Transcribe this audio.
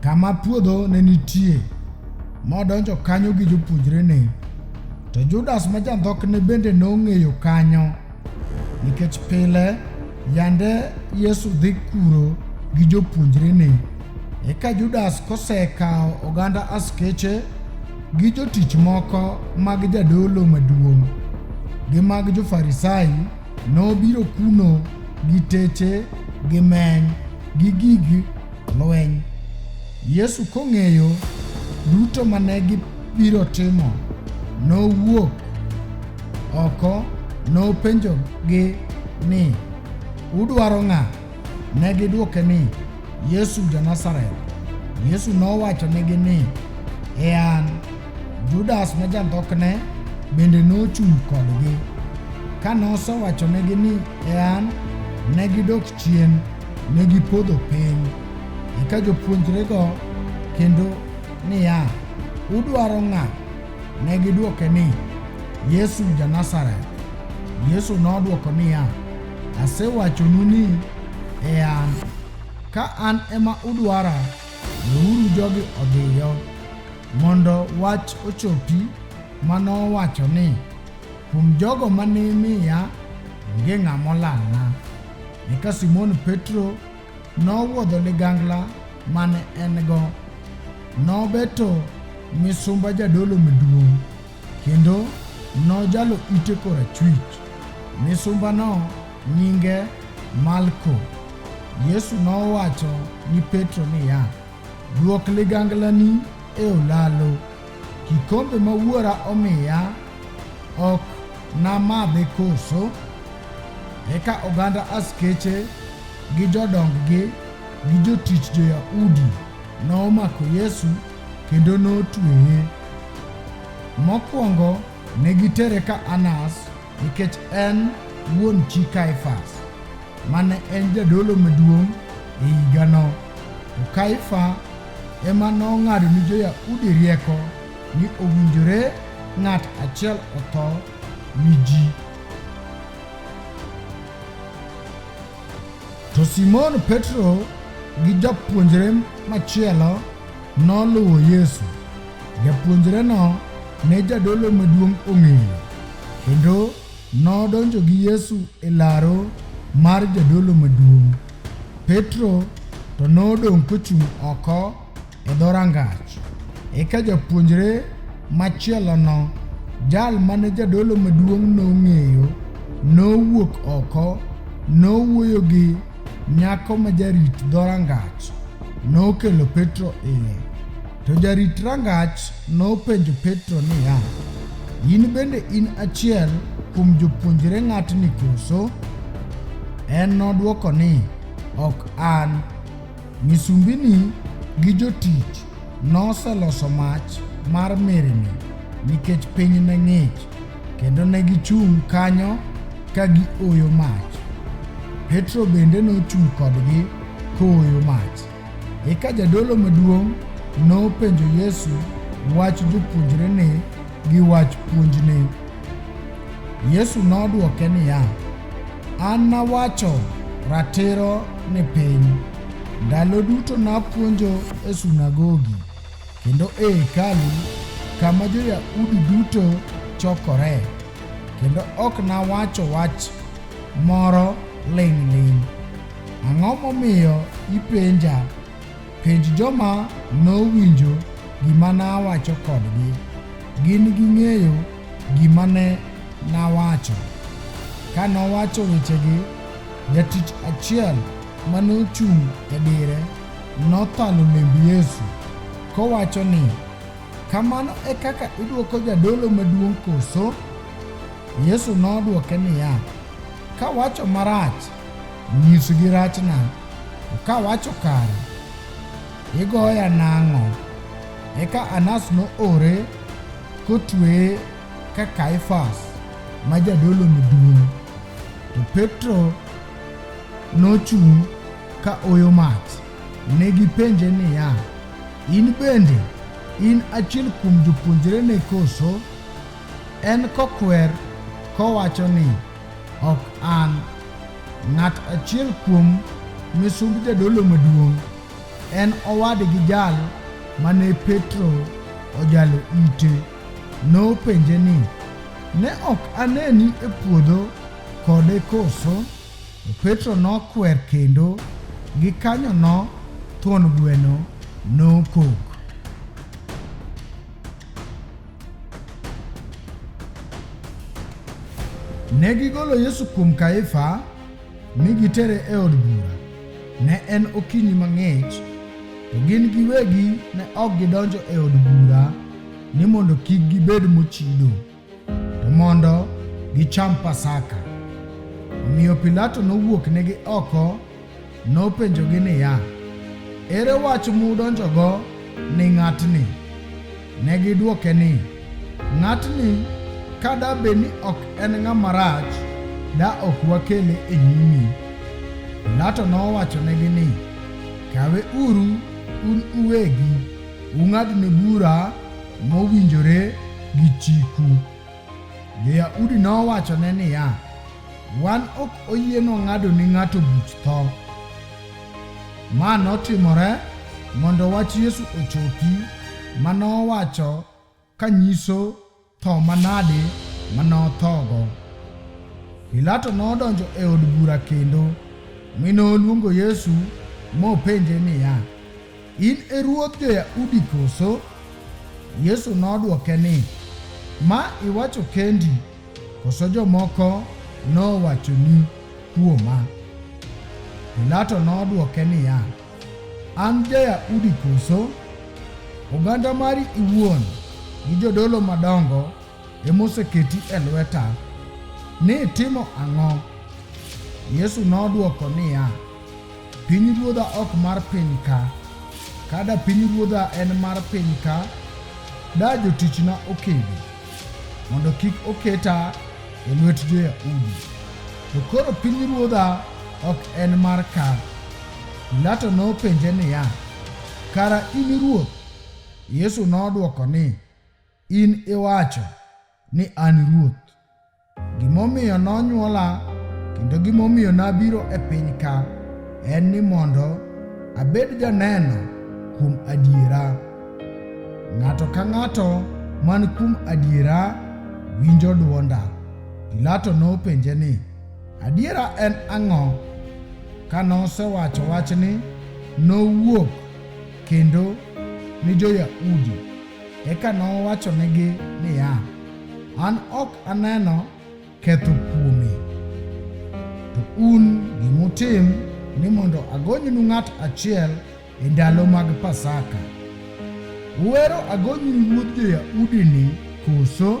kama puodho ne nitie, modonjo kanyo gi jopuonjrene. To Judas ma jandhokne bende nong'eyo kanyo, nikech pile yande Yesu dhi kuro gi jopuonjrene. Eka Judas kosekawo oganda askeche gi jotich moko mag jadolo maduong' gi mag jo-Farisai nobiro kuno gi teche gi meny gi gig lweny. Yesu kong'eyo duto ma ne gibiro timo, nowuok oko nopenjogi ni, Udwaro ng'a? Ne gidwoke ni, Yesu ja-Nazareth. Yesu nowachonegi ni, E an. Judas ma jandhokne bende nochung' kodgi. Ka nosewachonegi ni, E an, ne gidok Chien ne gipodho piny. Eka jopuonjrego kendo niya, Udwaro ng'a? Ne gidwoke ni, Yesu ja-Nazareth. Yesu nodwoko niya, Asewachonu ni e an. Ka an ema udwara, weuru jogi odhiyo, mondo wach ochopi ma nowacho ni, Kuom jogo ma ne imiya, onge ng'a molalna. Eka Simon Petro nowuodho ligangla mane en-go, nobeto misumba jadolo maduong', kendo nojalo ite korachwich. Misumbano nyinge Malko. Yesu nowacho ni Petro niya, Duok liganglani e olalo. Kikombe ma wuora omiya ok namadhe koso? Eka oganda askeche gi jodonggi gi jotich jo-Yahudi nomako Yesu kendo notweye. Mokwongo ne gitere ka Anas, Nikech en wuon chi Kaifas, ma ne en jadolo maduong' e higano, to Kaifa ema nong'ado ni jo-Yahudi rieko ni owinjore ng'at achiel otho ni ji. To Simon Petro gi japuonjre machielo noluwo Yesu. Japuonjreno ne jadolo maduong' ong'eyo, kendo nodonjo gi Yesu e laro mar jadolo maduong'. Petro to nodong' kochung' oko e dho rangach. Eka japuonjre machielono, jal mane jadolo maduong' nong'eyo, nowuok oko, nowuoyo gi nyako ma jarit dho rangach, nokelo Petro iye. To jarit rangach nopenjo Petro niya, In bende in achiel kuom jopuonjre ng'atni koso? En nodwoko ni, Ok an. Misumbini gi jotich noseloso mach mar mirni nikech piny ne ng'ich, kendo ne gichung' kanyo ka gioyo mach. Petro bende nochung' kodgi kooyo mach. Eka jadolo maduong' nopenjo Yesu wach jopuonjrene gi wach puonjne. Yesu nodwoke niya, An nawacho ratiro ni piny. Ndalo duto napuonjo e sunagogi kendo e hekalu kama jo-Yahudi duto chokore, kendo ok nawacho wach moro ling'ling'. Ang'o momiyo ipenja? Penj joma nowinjo gima nawacho kodgi. Gin ging'eyo gima ne nawacho. Ka nowacho wechegi, jatich achiel ma nochung' e dire nothalo lemb Yesu, kowacho ni, Kamano e kaka idwoko jadolo maduong' koso? Yesu nodwoke niya, Kawacho marach Nyisgi rachna, to ka wacho kare, igoya nang'o? Eka Anas noore kotweye ka Kaifas ma jadolo maduong'. To Petro nochung' ka oyo mach. Ne gipenje niya, In bende in achiel kuom jopuonjrene koso? En kokwer kowacho ni, Ok an. Ng'at achiel kuom misumb jadolo maduong' en owadgi jal ma ne Petro ojalo ite. Nopenje ni, Ne ok aneni e puodho kode koso? To Petro nokwer kendo gikanyono thuon gweno nokok. Ne gigolo Yesu kuom Kaifa mi gitere e od bura. Ne en okinyi mang'ich, to gin giwegi ne ok gidonjo e od bura ni mondo kik gibed mochido, to mondo gicham Pasaka. Omiyo Pilato nowuoknegi oko Nopenjogi niya, Ere wach mudonjogo ni ng'atni? Ne gidwoke ni, Ng'atni ka da bed ni ok en ng'ama rach, da ok wakele e nyimi. Pilato nowachonegi ni, Kawe uru un uwegi, ung'adne bura mowinjore gi chiku. Jo-Yahudi nowachone niya, Wan ok oyieno ng'ado ni ng'ato buch tho. Ma notimore mondo wach Yesu ochopi ma nowacho ka nyiso tho manade ma nothogo. Pilato nodonjo e od bura kendo, mi noluongo Yesu mopenje niya, In e ruodh jo-Yahudi koso? Yesu nodwoke ni, Ma iwacho kendi, koso jomoko nowachoni kuoma? Pilato nodwoke niya, An ja-Yahudi koso? Oganda mari iwuon gi jodolo madongo emoseketi e lweta ni itimo ang'o? Yesu nodwoko niya, Pinyruodha ok mar piny ka. Ka da pinyruodha en mar piny ka, da jotichna okedi, mondo kik oketa e lwet jo-Yahudi. To koro pinyruodha ok en mar ka. Pilato nopenje niya, Kara in ruoth? Yesu nodwoko ni, In iwacho ni an ruoth. Gimomiyo nonyuola kendo gimomiyo nabiro e piny ka en ni mondo abed janeno kuom adiera. Ng'ato ka ng'ato man kuom adiera winjo dwonda. Pilato nopenje ni, Adiera en ang'o? Ka nosewacho wachni, nowuok kendo ni jo-Yahudi. Eka nowachonegi niya, An ok aneno ketho kuome. To un gimutim ni mondo agonynu ng'at achiel e ndalo mag Pasaka. Uwero agonynu ruodh jo-Yahudini koso?